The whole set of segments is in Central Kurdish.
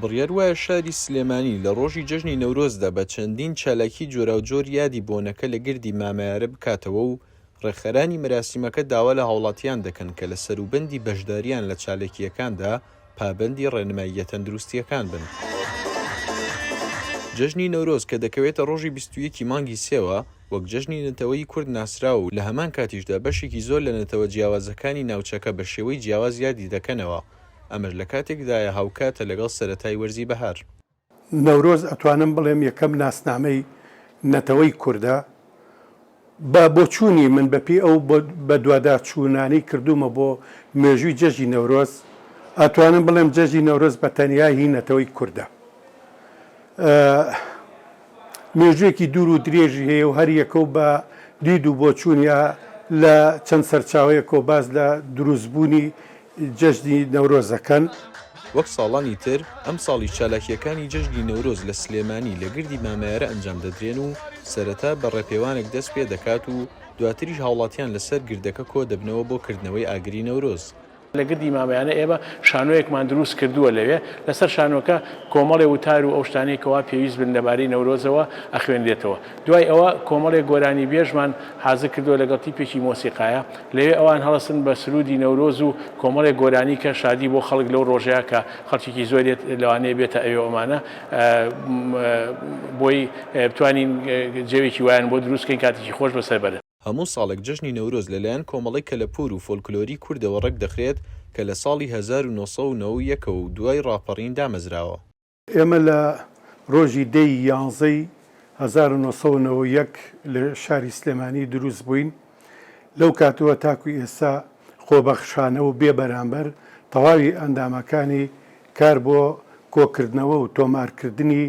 بڕیار وایە شاری سلێمانی لە ڕۆژی جەژنی نەورۆزدا بە چەندین چالاکیی جۆراوجۆر یادی بۆنەکە لە گردی مامەیارە بکاتەوە و ڕێکخەرانی مەراسیمەکە داوا لە هاوڵاتیان دەکەن کە لە سەروبەندی بەشدارییان لە چاالکییەکاندا پابەندی ڕێنماییە تەندروستییەکان بن. جەژنی نەورۆز کە دەکەوێتە ڕۆژی بیست و یەک ی مانگی سێوە، وەک جەژنی نەتەوەیی کورد ناسراوە و لە هەمان کاتیشدا بەشێکی زۆر لە نەتەوە جیاوازەکانی ناوچەکە بە شێوەی جیاواز یادی دەکەنەوە، ئەمەش لە کاتێکدایە هاوکاتە لەگەڵ سەرەتای وەرزی بەهار. نەورۆز ئەتوانم بڵێم یەکەم ناسنامەی نەتەوەی کوردە، بە بۆچوونی من بەپێی ئەو بەدواداچوونانەی کردوومە بۆ مێژووی جەژنی نەورۆز ئەتوانم بڵێم جەژنی نەورۆز بە تەنیا هی نەتەوەی کوردە. مێژووێکی دوور و درێژی هەیە و هەر یەکە و بە دید و بۆچوونیا لە چەند سەرچاوەیەکەوە باس لە دروستبوونی جەژنی نەورۆز دەکەن. وەک ساڵانی تر، ئەمساڵیش چالاکییەکانی جەژنی نەورۆز لە سلێمانی لە گردی مامەیارە ئەنجام دەدرێن و سەرەتا بە ڕێپێوانێک دەست پێ دەکات و دواتریش هاوڵاتیان لەسەر گردەکە کۆ دەبنەوە بۆ کردنەوەی ئاگری نەورۆز. لە گردی مامەیانە ئێمە شانۆیەکمان دروست کردووە لەوێ لەسەر شانۆکە کۆمەڵێ وتار و ئەو شتانەی کەوا پێویست بن لەبارەی نەورۆزەوە ئەخوێنرێتەوە دوای ئەوە کۆمەڵێ گۆرانی بێژمان حازر کردووە لەگەڵ تیپێکی مۆسیقایە لەوێ ئەوان هەڵەسن بە سروودی نەورۆز و کۆمەڵێ گۆرانی کە شادی بۆ خەڵک لەو ڕۆژەیە کە خەڵکێکی زۆری لەوانەیە بێتە ئەوێ ئەمانە بۆی بتوانین جەوێکی وایان بۆ دروست کەین کاتێکی خۆش بەسەر بەرن. هەموو ساڵێک جەژنی نەورۆز لە لایەن کۆمەڵەی کەلەپوور و فۆلکلۆری کوردەوە ڕێک دەخرێت کە لە ساڵی هەزار و نۆ سەد و نەوە و یەک ەوە و دوای ڕاپەڕین دامەزراوە. ئێمە لە ڕۆژی دە ی یانزە ی هەزار و نۆ سەد و نەوە و یەک لە شاری سلێمانی دروست بووین، لەو کاتەوە تاکوو ئێستا خۆبەخشانە و بێ بەرامبەر تەواوی ئەندامەکانی کار بۆ کۆکردنەوە و تۆمارکردنی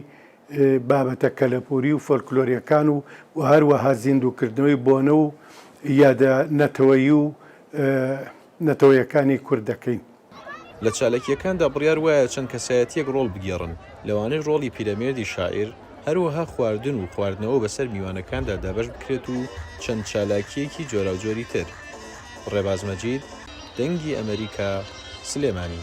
بابەتە کەلەپووری و فۆلکلۆرییەکان و و هەروەها زیندووکردنەوەی بۆنە و یادە نەتەوەیی و نەتەوەیەکانی کورد دەکەین. لە چاالکییەکاندا بڕیار وایە چەند کەسایەتییەک ڕۆڵ بگێڕن، لەوانەش ڕۆڵی پیرەمێردی شاعیر، هەروەها خواردن و خواردنەوە بەسەر میوانەکاندا دابەش بکرێت و چەند چالاکییەکی جۆراوجۆری تر. ڕێباز مەجید، دەنگی ئەمەریکا، سلێمانی.